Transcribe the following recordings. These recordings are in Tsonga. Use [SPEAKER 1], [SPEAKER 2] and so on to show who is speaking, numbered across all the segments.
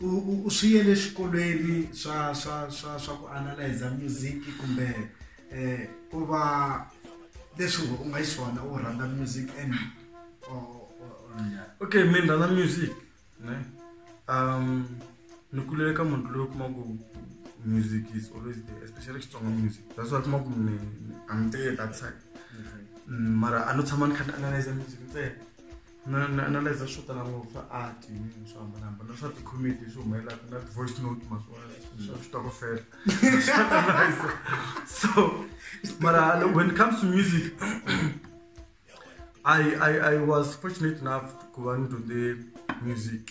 [SPEAKER 1] u u u swi yele swikolweni swa swa swa swa ku analyzer music kumbe eh ku va leswi u nga xiswona u rhandza music and okay mi rhandza music ne um ni kulele ka munhu loyi kuma ku music is always there especially xitsonga music that's why kuma ku ni i'm there that side mm, mara a no tshama ni kha ni analyzer music ntsena na na na leza swo tala ngopfu swa art yini swo hambanahambana na swa ti-comedy leswi humelelaka na ti-voice note maswona swa switokofela so mara when it comes to music I, I, I was fortunate enough ku va ni dyondze music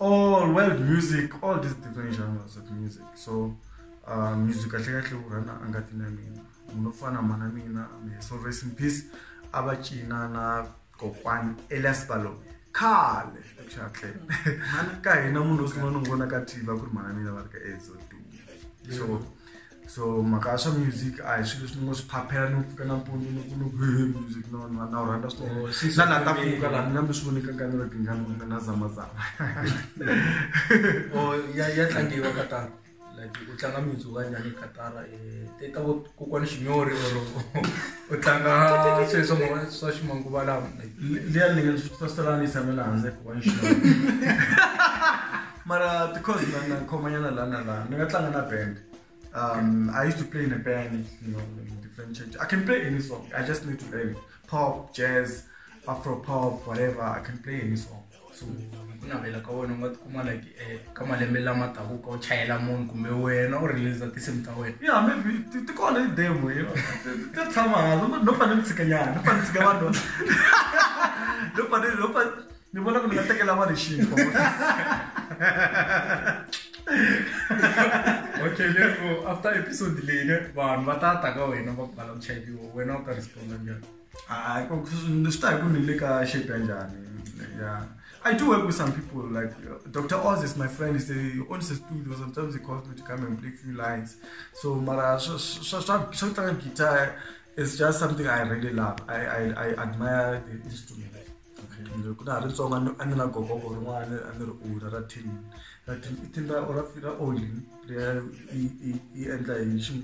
[SPEAKER 1] all world music all these different genres of music so uh, music kahle kahle u rhana a nga tina mina munhu fana mana mina so rest in peace a va cina na kokwani elias balo khale xatle ka hina munhu u sungula ni n'wi vona ka tv a ku ri mana mina va ri ka ezo so so mhaka ya swa music a hi swilo leswi ni ngo swi phaphela ni pfuka nampundzu ni ku ni ku he music no na na wu rhandza swinene Oh, swi na la ta swi- pfuka laha ni nga mi swi voneka ka ni ri tingani ku nga na zamazama or ya ya tlangiwa ka tara like u tlanga music wa njhani ka tara eh, te ta vo kokwani xinyori or u tlanga sweswo mo- swa ximanguva lawa like liya ni nga swi tsaselanisa mina handle ku wa nxina mara because na khoma nyana la na la ni nga tlanga na band um i used to play in a band you know in different church i can play any song i just need to learn pop jazz afro pop whatever i can play any song so ku navela ka wena u nga tikuma like eh, ka malembe lama taku ka u chayela munhu kumbe wena u release tinsimu ta wena yeah maybe ti- ti kona i demo you know Ti- ti tshama hansi no fanele ni tshikanyana no fanele ni tshika vanhu no fanele no fanele ni vona ku ni nga tekela vanhu xinkwa okay lero after episode leyi ne vanhu va ta ta ka wena va ku bala ku chayiwa wena u ta responda njhani hayi swi ta hi ku ni le ka shape ya njhani ya I do work with some people. Like uh, Dr. Oz is my friend. He's the owns a studio. Sometimes he calls me to come and play few lines. So Mara, so, so, so, so, guitar is just something I really love. I, I, I admire the instrument. Okay ni ri ku na ha ri ntsongo a ni a ni na gogo ku rin'wana a ni ri u ra ra tin ra tin i tin ra ra ra oli leya i i i endla hi xi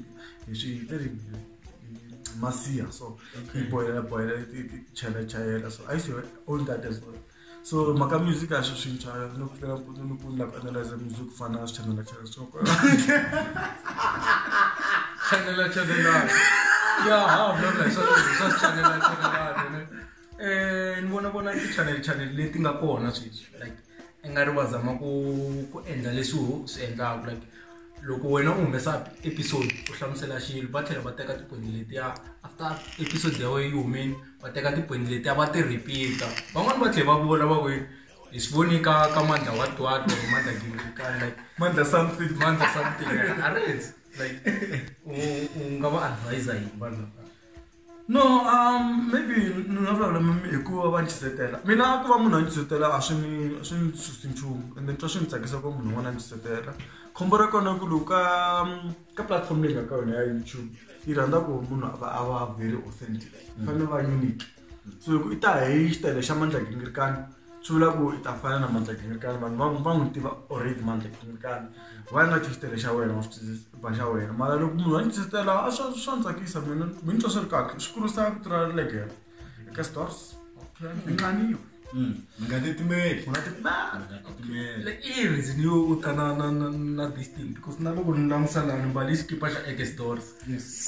[SPEAKER 1] hi xi i ri i masiha so i boyela boyela i i chela chayela so a yi se old that as well so maka music a swi swintsha ni ku fika mpundzu ni ku ni lava ku analyze music ku fana na swichanela chela so chanela chanela ya ha vula swa swa chanela chanela eh ni vona vona ti channel channel leti nga kona sweswi like i nga ri va zama ku ku endla leswi ho swi endlaka like loko wena u humesa episode u hlamusela xilo va tlhela va teka tipoyinti letiya after episode ya wena yi humeni va teka tipoyinti letiya va ti repeat-a van'wani va tlhela va vona va ku hi swi voni ka ka mandla wa twat or mandla gingikani like mandla something mandla something a ri like u nga va advise yini vanhu lava no um maybe ni nga vulavula hi ku va va ni chuzetela mina ku va munhu a ni chuzetela a swi ni a swi ni susi nchumu ende ni twa swi ni tsakisa ku va munhu un'wana a ni chuzetela khombo ra kona ku loko ka ka platform leyi nga ka yona ya youtube yi rhandza ku munhu a va a va very authentic yi fanele va unique so loko i ta hi xitayele xa mandla gingirikani chula ku i ta fana na mandla kingakani vanhu va va n'wi tiva already mandla kingakani va nga xisitele xa wena wa swiba xa wena mara loko munhu a ni xisitela a swa swa ni tsakisa mina mi ni twa swi ri kahle swi kurisa vito ra legere eka stores nqaniyo hmm. mi nga titimeli u nga titimela i reason yo u ta na na na na this thing because na loko ni langutisa lani mbali xikipa xa eke stores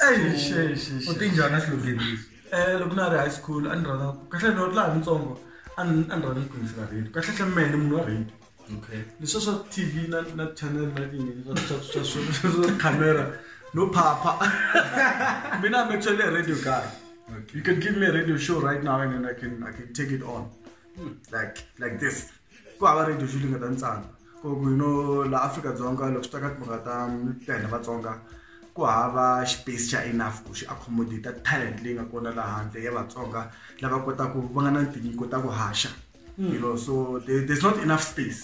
[SPEAKER 1] eyi xexexe u tinjhana xilogeni lexi Eh, loko na ri high school a ni rhandza kahle loko laha nitsongo a ni a ni rhandza ku yingisela radio kahle hle mene munhu wa radio okay leswa swa tv na na channel na yini swa swa swa swa camera no phapha mina i'm actually a radio guy okay. you can give me a radio show right now and then i can i can take it on hmm. like like this ku hava radio swi ringeta ntsana ku ku you know la afrika dzonga loko swi ta ka timhaka ta ta hina vatsonga ku hava space xa enough ku xi accommodate talent leyi nga kona la handle ya vatsonga lava kotaku va nga na tinyiko ta ku haxa hmm. you know so there, there's not enough space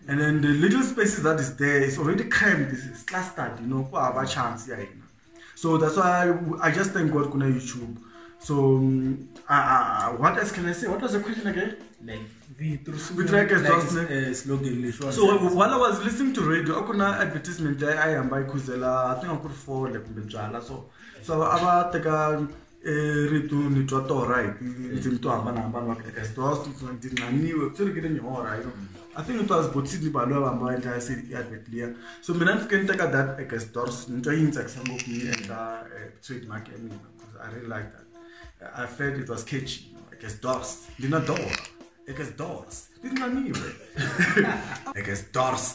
[SPEAKER 1] and then the little spaces that is there is already cramped is clustered you know ku hava chance ya hina so that's why i just thank god kuna youtube so um, uh, uh, what else can i say what was the question again like so while i was listening to radio a ku na advertisement leyi a yi hamba yi khuzela i think a ku ri fole kumbe byala so so a va teka i rito ni twa torha hi tindzimi to hambanahambana va eka sitosto ti nqaniwe swi rikile nyihora you know i think it was bot sydney baloyi va hamba va endla se i advert liya so mina ni fike ni teka that eka stores ni twa yi ni tsakisa ngopfu ni endla eh, trade mark ya mina because i really like that i felt it was catchy you know, eka stores ndina dora eka stores ti nqaniwe eka stores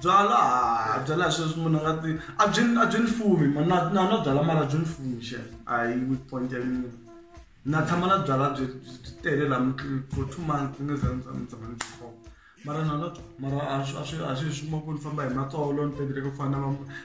[SPEAKER 1] byala ha byala hi sweswi munhu a nga ti a byi a byi ni fumi na na na byala mara byi ni fumi xe a hi weak point ya mina na tshama na byala byi byi tele la for two months ni za ni tshama ni byi khoma mara na na mara a swi a swi a swi xuma ku ni famba hi matsolo ni pendeleke ku fana na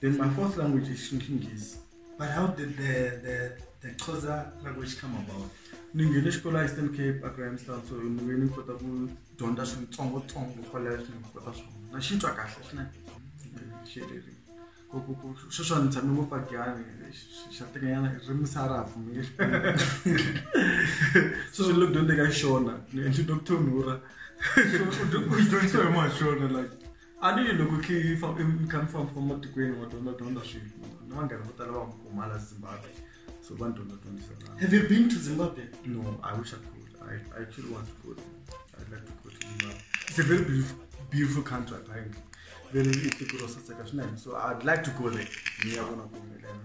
[SPEAKER 1] Then my fourth language is Xinghezi. But how did the, the, the Xhosa language come about? ni nghene xikolo a eastern cape a grahamstown so ni ve ni kota ku dyondza switsongotsongo kwalayo swi ni kota swona na xi twa kahle swinene xereri sweswo ni tshame ngopfu agiyani xa tekanyana ririmi sa ra ha pfumeli sweswo lo dyondzeka xona ni endli doctor nura u dyondzisiwa hi maxona like a ni loko i kha mi famba famba matikweni wa dyondza dyondza swilo ni vanghana vo tala va nga kumala zimbabwe so va ni dyondza dyondzisana have you been to zimbabwe no i wish i could i, I actually want to go there. i'd like to go to zimbabwe it's a very beautiful, beautiful country apparently very little process like so i'd like to go there ngiyabona kumelana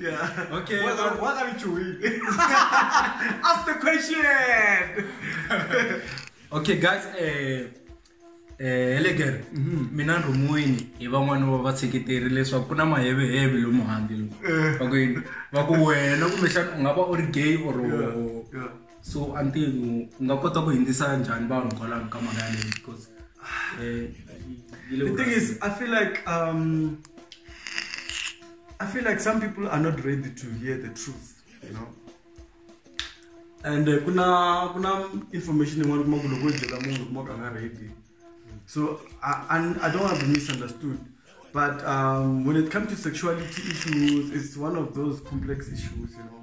[SPEAKER 1] yeah. Okay. What, are, what are you doing? Ask the question. okay, guys. Uh, eh elegere eh, mhm. mina ndrumuwini hi van'wana va vatsheketeri leswaku ku na maheveheve lomu handle loku eh. va ku wena kumbexana u nga va u ri gay or so a ntirho u nga kota ku hindzisa njhani vanhu kwalaho ka mhaka yaleyo because eh, yi le the thing is i feel like um i feel like some people are not ready to hear the truth you know and eh, ku na ku na information yin'wana kuma ku loko u byela munhu kuma ku a nga ready so I, and i don't want to be misunderstood but um, when it comes to sexuality issues it's one of those complex issues you know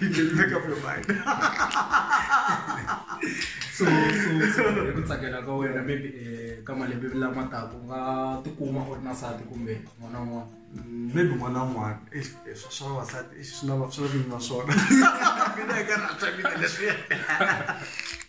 [SPEAKER 1] you can make up your mind so so so hi ku tsakela ka wena maybe eh, ka malembe lama taka u nga tikuma u ri na sati kumbe n'wana un'wana maybe n'wana un'wana eh, eh, swa swa vavasati eh, swi na va- swi na vinyi va swona mina hi ka rhandza mina leswi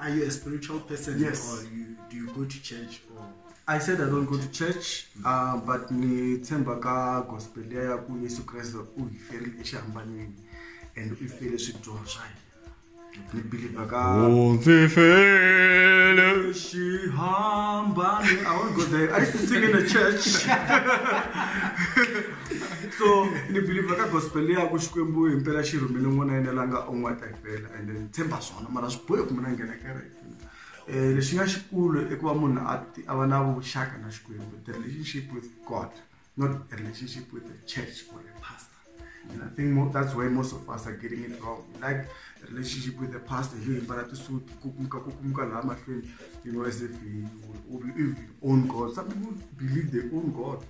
[SPEAKER 1] Are you a spiritual person? Yes. Or you, do you go to church? Or I said I don't go to church, mm. uh, but ni tshemba ka gospel ya ku Yesu Kriste u hi ferile exihambanweni and u fele swidyoho swa hina. Ni believe ka U ndzi fele xihambani. I won't go there. I used to sing in a church. so ni believe ka gospel ya ku Xikwembu himpela xi rhumele n'wana yena la nga un'wataka. vela ende ni tshemba swona mara swi bohi ku mina nghena kereke um lexi nga xikulu i ku va munhu a a va na vuxaka na xikwembu the relationship with god not a relationship with the church or a pastor and i think more, that's why most of us are getting it wrong we like a relationship with the pastor yo yimbala tisuti kukumuka kukumuka laha mahlweni you know as if we, we, we own god some people believe they own god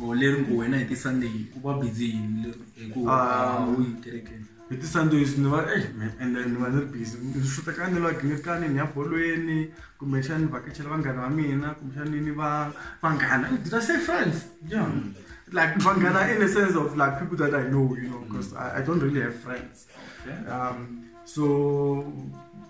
[SPEAKER 1] o oh, leri ngo wena hi tisunday u va busy yini hikuva ah. u yi kerekeni hi ti-sundays ni va eh, ende ni va ni ri busy ni xuta ka ni lwagi ni ri kani ni ya bolweni kumbexana ni vhakachela vanghana va mina kumbexana ni va vanghana did i say friends yeah like vanghana in a sense of like people that i know you know because I, i don't really have friends um, so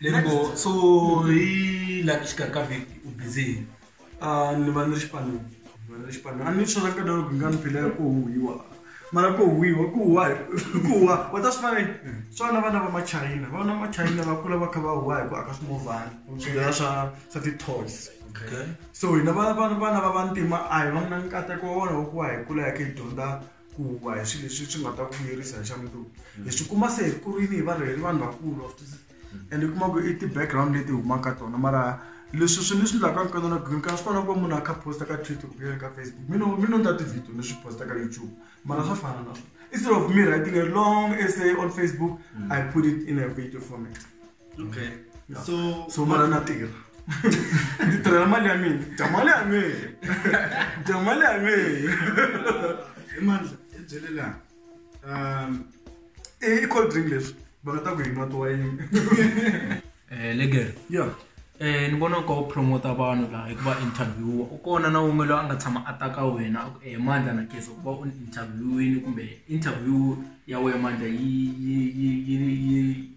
[SPEAKER 1] Leribo, so hi laha exikarhi ka vhiki u busy hi yini? Ah, ni va ni ri xipanini ni va ni ri xipanini a ni swi rhandza loko nga ni phila ku huwiwa mara ku huwiwa ku huwa hi ku huwa wa ta swi vona yini swa na vana va machayina vana va machayina va kula va kha va huwa hi ku aka swimovhana swidlaya swa swa ti-toys Okay. so hina vana vana vana va vantima a hi va na nkateko wa wona wa ku va hi kula hi kha hi dyondza ku huwa hi swilo leswi swi nga ta ku vuyerisa hi xa mundzuku mm. hi swi kuma se hi kurile hi varheyeri vanhu vakulu mm. and kuma ku i ti-background leti humaka tona mara leswi swi ni swi endlaka nkono na green card swi kona ku munhu a kha posta ka twitter kumbe ka facebook mi no mi no ndla ti-video ni swi posta ka youtube mara swa fana na swona instead of me writing a long essay on facebook mm. i put it in a video format ok so so mara na tirha ndzi tirhela mali ya mina dya mali ya mina dya mali ya mina hi mandla hi byele laha um i cold drink leswi va nga ta ku hi nwa tiwayini um eh, legere ya um ni vona ka u promota vanhu laha hi ku va interviewa u kona na wun'we loyi a nga tshama a ta ka wena hi eh, mandla na kesa ku va u interviewini kumbe interview ya wena mandla yi yi yi yi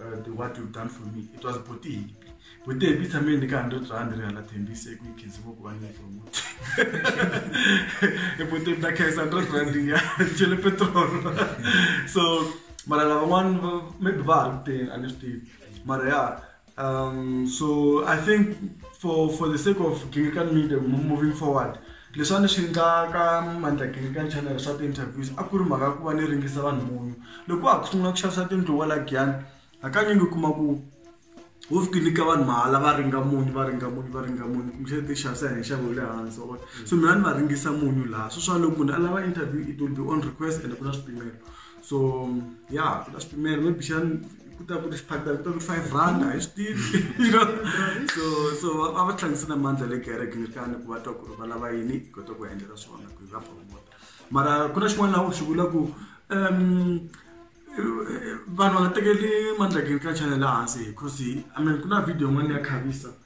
[SPEAKER 1] uh, the what you've done for me it was botini botini hi tshameni ni karhi ndo bya ni ri hala thembise ku yi khensiwa ku va ni promote i botini ta khensa ndo bya ndi ya chele petrol so mara lavan'wana maybe va ha ri kuteni a ni swi tivi mara ya um so i think for for the sake of gingirkan media moving forward Leswi a ni swi endlaka mandlakini ka chanel swa ti-interviews a ku ri mhaka ya ku va ni ringisa vanhu munyu loko wa ha ku sungula ku xavisa tindlu wa la giyani hakanyingi u kuma ku wo fika nyika vanhu mahala va ringa munyu va ringa munyu va ringa munyu kumbexana ti xavisa hi nxavo wa le hansi wa vona so mina ni va ringisa munyu laha sweswiwani loko munhu a lava interview it will be on request ene ku na swipimelo so ya swi ta swipimelo maybe xani ku ta ku ri xiphatela ku ta ku ri five rand a hi swi tivi you know so so va va va tlangise na mandla le kereke ni tani ku va twa ku ri va lava yini hi kota ku va endlela swona ku hi va promota mara ku na xin'wana laha u xi vula ku um vanhu va nga tekeli mandla kereke ka channel laha hansi because i mean ku na video yin'wana ya khavisa